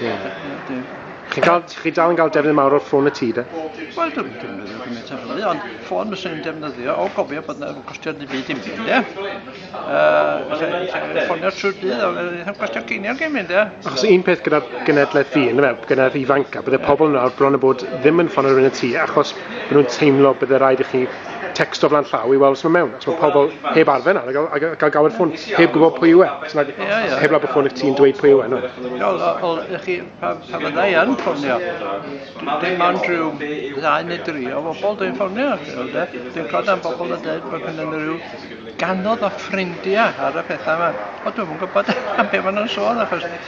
Ie. Chi'n cael, chi dal yn cael defnydd mawr o'r ffôn y tŷ, de? Wel, dwi'n defnyddio gymaint o hynny, ond ffôn fyswn i'n defnyddio, o gofio bod yna costio ddim byd i'n byd, de? Yy, ffonio trwy'r dydd, ond ddim costio ceiniog i'n mynd, de? Achos un peth gyda'r genedlaeth fi, yna fe, gyda'r ifanca, bydde pobl yna o'r bron y bod ddim yn ffonio rhywun y tŷ, achos bod nhw'n teimlo bydde rhaid i chi text o flan llaw i weld os mae mewn. Os mae pobl heb arfer nawr, a gael, gael gawer ffôn, heb gwybod pwy yw e. Os nad, yeah, yeah. heb law ffôn eich ti'n dweud pwy yw e. No. Wel, wel, chi, pa, pa fydda i yn ffonio? Dim ond rhyw ddau neu dri o bobl dwi'n ffonio. Dwi'n clod am bobl yn dweud bod hyn yn rhyw ganodd o ffrindiau ar y pethau yma. O, dwi'n yn gwybod am beth maen nhw'n sôn, achos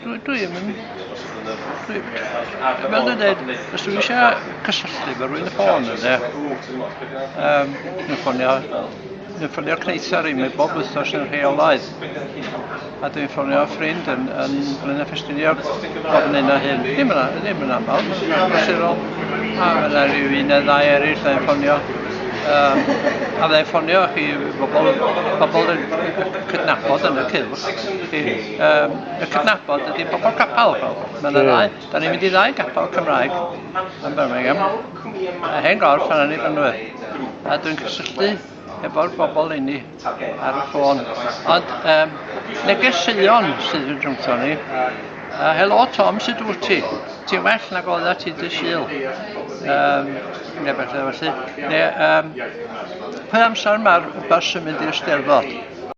Dwi, dwi ddim yn... Dwi... Fel dwi'n dweud, os dwi eisiau cysylltu efo rhywun y ffôn yna, um, dwi'n ffonio, dwi'n ffonio Cneithar i mi bob wythnos yn rheolaidd. A dwi'n ffonio ffrind yn, yn Glyn a Ffestiniog bob yn un o hyn. Ddim yn, ddim yn aml, mae'n amserol. A mae'n rhyw un neu ddau eraill yn ffonio. Um, a mae'n ffonio chi bobl, bobl yn cydnabod yn y cylch. um, y cydnabod ydy pobl capel. Mae'n y ddau. Da ni'n mynd i ddau capel Cymraeg yn Birmingham. A hen gorff yna ni fan nhw. A dwi'n cysylltu efo'r bobl inni ar y ffôn. Ond um, neges Sion sydd yn rhwngto ni. Uh, helo Tom, sut wyt ti? Ti'n well nag oedda ti dy syl? Um, neu beth felly. Neu, um, pwy amser mae'r bus yn mynd i'r steddfod?